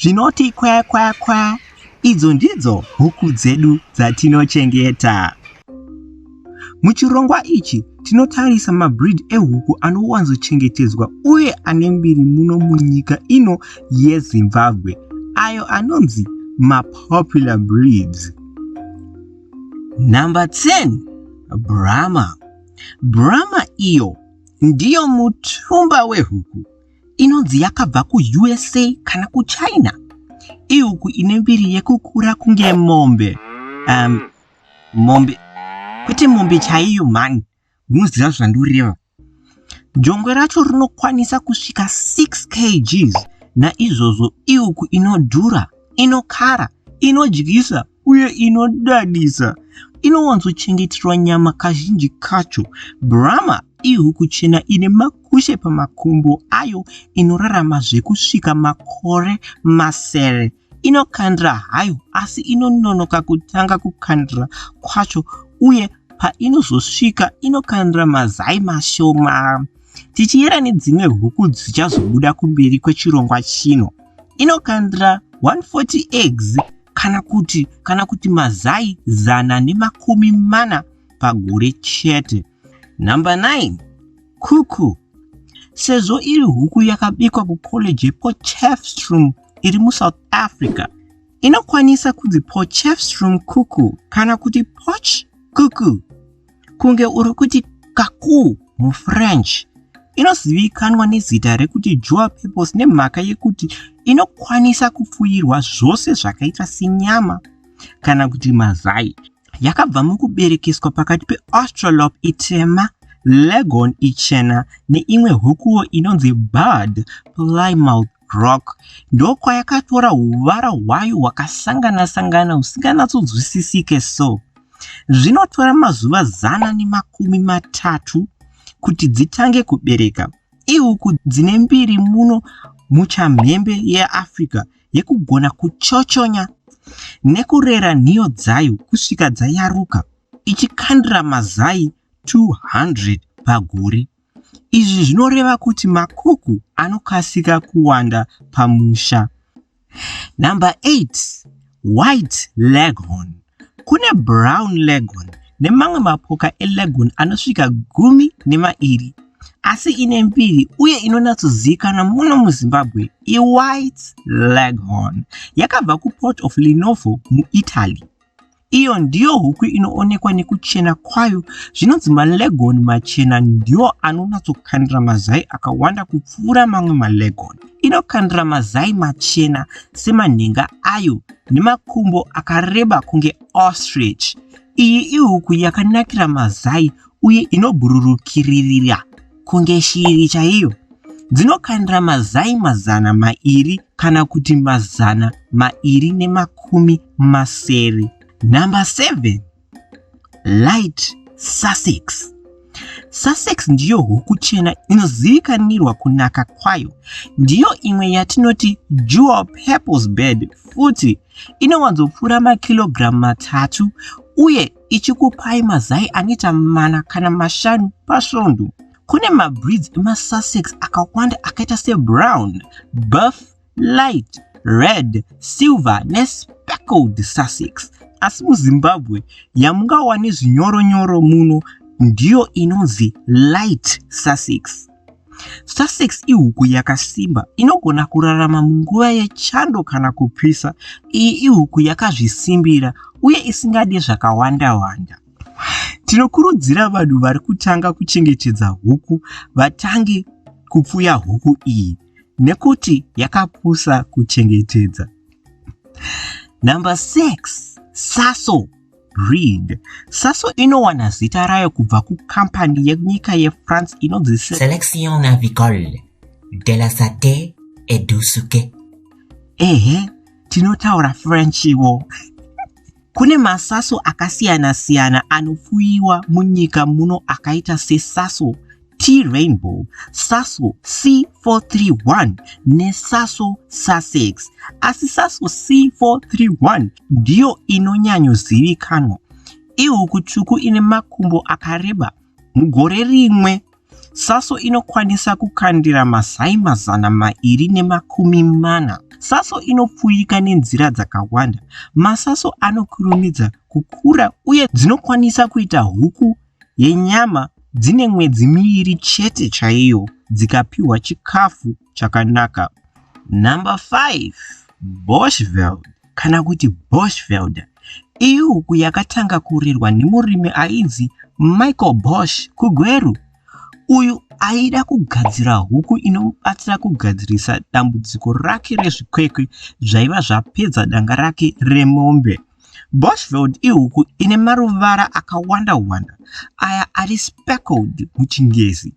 zvinoti kwa kwa kwa idzo ndidzo huku dzedu dzatinochengeta. Muchirongwa ichi tinotarisa mabreed ehuku anowanzochengetedzwa uye ane mbiri muno munyika ino yeZimbabwe ayo anonzi mapopular breeds. Number 10 Brahma Brahma iyo ndiyo mutumba wehuku inonzi yakabva kuusa kana kuchina iuku ine mbiri yekukura kunge mombe um, mombe kwete mombe chaiyo mhani munoziva zvandoreva jongwe racho rinokwanisa kusvika 6 kgs naizvozvo iuku inodhura inokara inodyisa uye inodadisa inowanzochengeterwa nyama kazhinji kacho brahma ihuku chena ine makushe pamakumbo ayo inorarama zvekusvika makore masere inokandira hayo asi inononoka kutanga kukandira kwacho uye painozosvika inokandira mazai mashoma tichiyera nedzimwe huku dzichazobuda kumberi kwechirongwa chino inokandira 140 eggs kana kuti kana kuti mazai zana nemakumi mana pagore chete number 9 kuku sezvo iri huku yakabikwa kucollege yepochefstrom iri musouth africa inokwanisa kunzi pochefstrom kuku kana kuti poch kuku kunge uri kuti kakuu mufrench inozivikanwa nezita rekuti jua purpose nemhaka yekuti inokwanisa kupfuirwa zvose zvakaita senyama kana kuti mazai yakabva mukuberekeswa pakati peaustralop itema legon ichena neimwe hukuwo inonzi bard plymouth Rock ndokwayakatora huvara hwayo hwakasangana sangana husinganatsodzwisisike so zvinotora mazuva zana nemakumi matatu kuti dzitange kubereka iuku dzine mbiri muno muchamhembe yeafrica yekugona kuchochonya nekurera nhiyo dzayo kusvika dzayaruka ichikandira mazai 200 pagore Izvi zvinoreva kuti makuku anokasika kuwanda pamusha. Number 8. White leghorn. Kune brown leghorn nemamwe mapoka eleghorn anosvika gumi nemairi asi ine mbiri uye inonatsozivikanwa muno muzimbabwe iwhite leghorn yakabva kuport of linovo muitaly Iyo ndiyo huku inoonekwa nekuchena kwayo. Zvinonzi maleghorn machena ndiwo anonatsokandira mazai akawanda kupfuura mamwe maleghorn. Inokandira mazai machena semanhenga ayo nemakumbo akareba kunge ostrich. Iyi ihuku yakanakira mazai uye inobhururukiririra. kunge shiri chaiyo dzinokandira mazai mazana mairi kana kuti mazana mairi nemakumi masere number 7 light sussex sussex ndiyo huku chena inozivikanirwa kunaka kwayo ndiyo imwe yatinoti jewel purples bed futi inowanzopfuura makirogiramu matatu uye ichikupai mazai anoita mana kana mashanu pasvondo. Kune mabreeds emaSussex akawanda akaita sebrown, buff, light, red, silver nespeckled Sussex. Asi muZimbabwe yamungawane zvinyoronyoro muno ndiyo inonzi light Sussex. Sussex ihuku yakasimba inogona kurarama munguva yechando kana kupisa. Iyi ihuku yakazvisimbira uye isingade zvakawanda-wanda. Tinokurudzira vanhu vari kutanga kuchengetedza huku vatange kupfuya huku iyi nekuti yakapusa kuchengetedza. Number 6, Saso Read. Sasso inowana zita rayo kubva kukambani yenyika yefrance inonzi selection avicole de la sate edusuke ehe tinotaura frenchiwo kune masaso akasiyana-siyana anofuyiwa munyika muno akaita sesaso T-Rainbow, Sasol C431 neSasol Sussex. Asi Sasol C431 ndiyo inonyanyozivikanwa. Ihuku tsvuku ine makumbo akareba. Mugore rimwe, Saso inokwanisa kukandira mazai mazana mairi nemakumi mana. Saso inopfuurika nenzira dzakawanda. Masaso anokurumidza kukura uye dzinokwanisa kuita huku yenyama dzine mwedzi miviri chete chaiyo dzikapiwa chikafu chakanaka. Number 5 Boschveld kana kuti Boschvelder ihuku yakatanga kurerwa nemurimi ainzi Michael Bosch kuGweru uyu aida kugadzira huku inomubatsira kugadzirisa dambudziko rake rezvikwekwe zvaiva zvapedza danga rake remombe. Bushveld ihuku ine maruvara akawanda-wanda aya ari speckled muChingezi.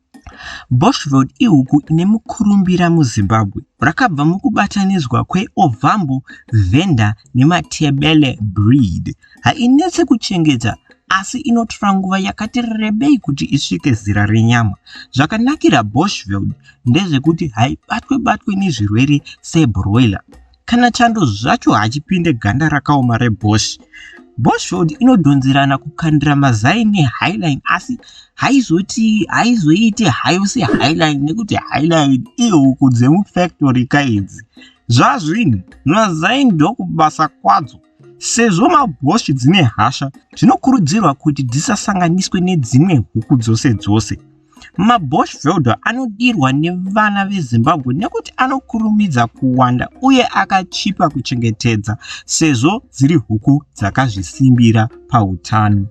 Bushveld ihuku ine mukurumbira muZimbabwe. Rakabva mukubatanidzwa kweOvambo, Venda neMatebele breed. Hainetse kuchengeta asi inotora nguva yakati rebei kuti isvike zera renyama. Zvakanakira Bushveld ndezvekuti haibatwe-batwe nezvirwere sebroiler. kana chando zvacho hachipinde ganda rakaoma rebosh boshford inodhonzerana kukandira mazai nehighline asi haizoti haizoite hayo sehighline nekuti highline ihuku dzemufactory kaidzi zvazvinhu mazai ndokubasa kwadzo Sezvo mabhoshi dzine hasha, zvinokurudzirwa kuti dzisasanganiswe nedzimwe huku dzose dzose. Mabosh velder anodirwa nevana veZimbabwe nekuti anokurumidza kuwanda uye akachipa kuchengetedza sezvo dziri huku dzakazvisimbira pautano.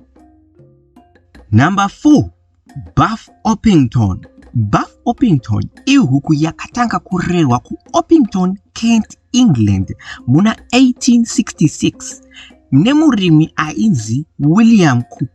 Number 4 Buff Orpington Buff Orpington ihuku yakatanga kurerwa kuOrpington, Kent, England muna 1866 nemurimi ainzi William Cook.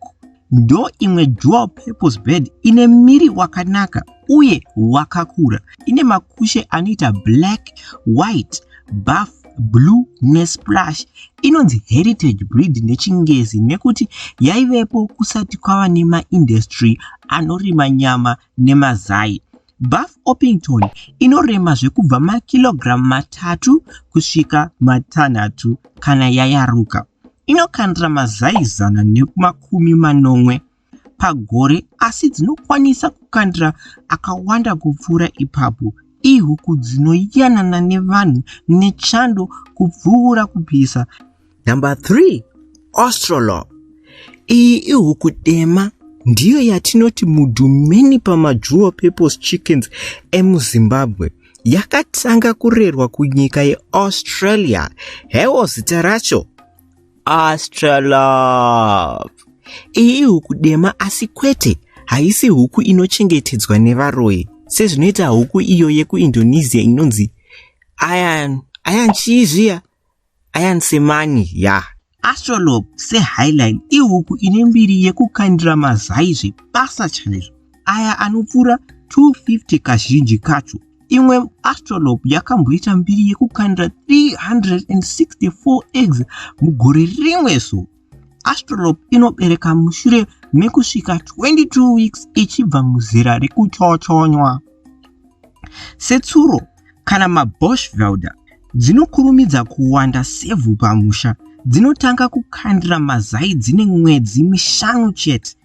Ndo imwe dual purpose bird ine miri wakanaka uye wakakura. Ine makushe anoita black, white, buff Blue neSplash inonzi heritage breed nechingezi nekuti yaivepo kusati kwava nemaindustry anorima nyama nemazai. Buff Orpington inorema zvekubva makilogiramu matatu kusvika matanhatu kana yayaruka. Inokandira mazai zana nemakumi manomwe pagore asi dzinokwanisa kukandira akawanda kupfuura ipapo. Ihuku dzinoyanana nevanhu nechando kupfuura kupisa. Number 3 Australorp iyi ihuku dema ndiyo yatinoti mudhumeni pamajuwo purpose chickens emuzimbabwe yakatanga kurerwa kunyika yeaustralia hewo zita racho astralove iyi huku dema asi kwete haisi huku inochengetedzwa nevaroyi sezvinoita huku iyo yekuindonesia inonzi ayan ayan chii zviya ayan semani ya yeah. astrolog sehighline ihuku ine mbiri yekukandira mazai zvebasa chaizvo aya anopfuura 250 kazhinji kacho imwe astrolop yakamboita mbiri yekukanda 364 eggs mugore rimwe so astrolop inobereka mushure mekusvika 22 weeks ichibva muzera rekuchochonywa setsuro kana maboshvelder dzinokurumidza kuwanda sevhu pamusha dzinotanga kukandira mazai dzine mwedzi mishanu chete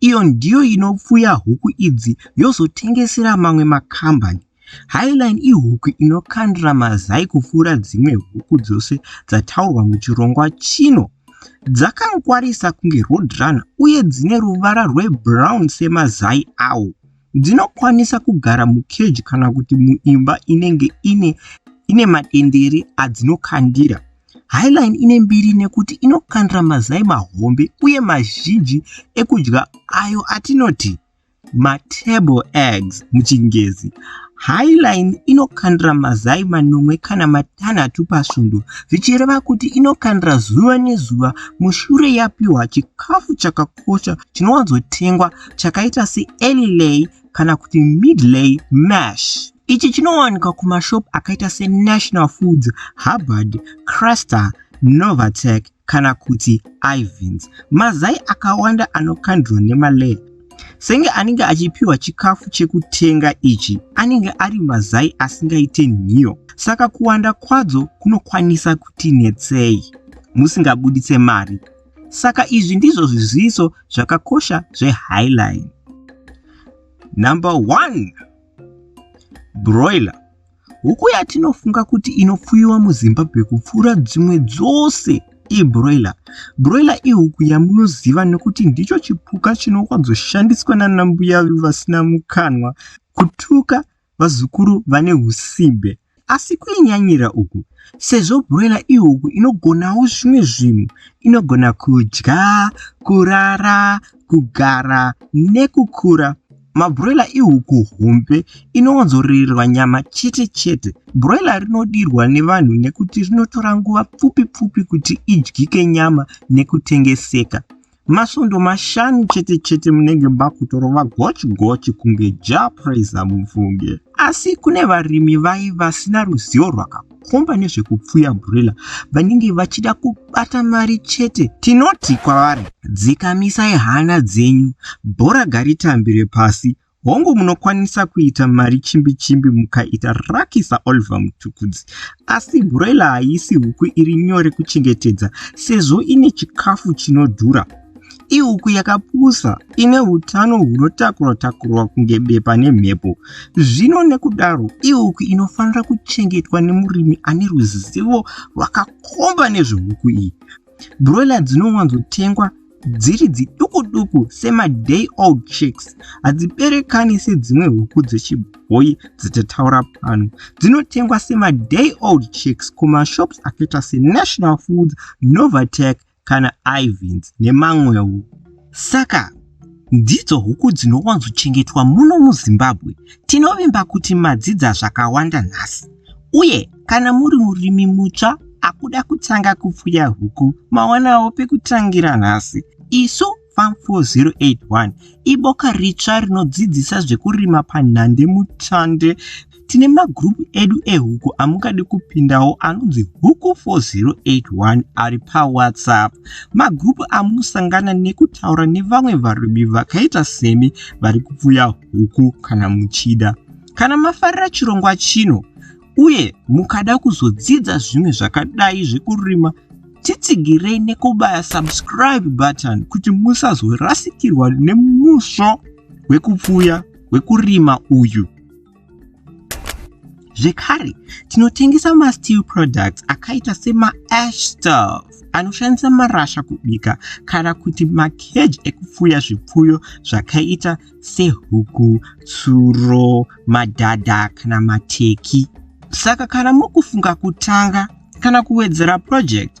Iyo ndiyo inopfuya huku idzi yozotengesera mamwe makambani. Highline ihuku inokandira mazai kupfuura dzimwe huku dzose dzataurwa muchirongwa chino. Dzakangwarisa kunge roadrunner uye dzine ruvara rwebrown semazai awo. Dzinokwanisa kugara mukeji kana kuti muimba inenge ine ine matendere adzinokandira. Highline ine mbiri nekuti inokandira mazai mahombe uye mazhinji ekudya ayo atinoti matable eggs muchingezi. Highline inokandira mazai manomwe kana matanhatu pasvondo zvichireva kuti inokandira zuva nezuva mushure yapiwa chikafu chakakwana. chakakosha chinowanzotengwa chakaita seearly lay kana kuti mid lay mash ichi chinowanikwa kumashop akaita senational foods hubbard craster novatec kana kuti ivens mazai akawanda anokandwa nemalay senge anenge achipiwa chikafu chekutenga ichi anenge ari mazai asingaite nhiyo saka kuwanda kwadzo kunokwanisa kutinetsei musingabuditse mari Saka izvi ndizvo zviziviso zvakakosha zvehighline. Number one, broiler. Huku yatinofunga kuti inopfuyiwa muZimbabwe kupfuura dzimwe dzose ibroiler. Broiler ihuku yamunoziva nekuti ndicho chipuka chinokwadzoshandiswa nanambuya vasina mukanwa kutuka vazukuru vane husimbe. Asi kunonyanyira uku, sezvo broiler ihuku inogonawo zvimwe zvinhu, inogona kudya, kurara, kugara nekukura. Mabroiler ihuku hombe inowanzorererwa nyama chete chete. Broiler rinodirwa nevanhu nekuti rinotora nguva pfupi pfupi kuti idyike nyama nekutengeseka. Masvondo mashanu chete chete munenge makutorova gochi gochi kunge Jah Prayzah mubvunge. Asi kune varimi vaye vasina ruzivo rwakakomba nezvekupfuya broiler vanenge vachida kubata mari chete, tinoti kwavari dzikamisai hana dzenyu, bhora garitambire pasi Hongu munokwanisa kuita mari chimbi chimbi mukaita raki saOliver Mutukudzi asi broiler haisi huku iri nyore kuchengetedza sezvo ine chikafu chinodhura. Ihuku yakapusa ine utano hunotakurwa takurwa kunge bepa nemhepo. Zvino nekudaro ihuku inofanira kuchengetwa nemurimi ane ruzivo rwakakomba nezvehuku iyi. broiler dzinowanzotengwa dziri dziduku duku semaday old chicks hadziberekani sedzimwe huku dzechibhoyi dzatataura pano dzinotengwa semaday old chicks kumashops akaita senational foods novatec kana ivins nemamwewo saka Ndidzo huku dzinowanzochengetwa muno muZimbabwe. Tinovimba kuti madzidza zvakawanda nhasi. Uye kana muri murimi mutsva akuda kutanga kupfuya huku, mawanawo pekutangira nhasi. Isu Farm 4081 iboka ritsva rinodzidzisa zvekurima panhande mutsvande Tine magroup edu ehuku amungade kupindawo anonzi huku 4081 ari pawhatsapp. Magroup amunosangana nekutaura nevamwe varimi vakaita semi vari kupfuya huku kana muchida. Kana mafarira chirongwa chino uye mukada kuzodzidza zvimwe zvakadai zvekurima titsigirei nekubaya subscribe button kuti musazorasikirwa nemusvo wekupfuya wekurima uyu. zvekare tinotengesa masteel products akaita semaash staff anoshandisa marasha kubika kana kuti makeji ekupfuya zvipfuyo zvakaita sehuku tsuro madhadha kana mateki saka kana mukufunga kutanga kana kuwedzera project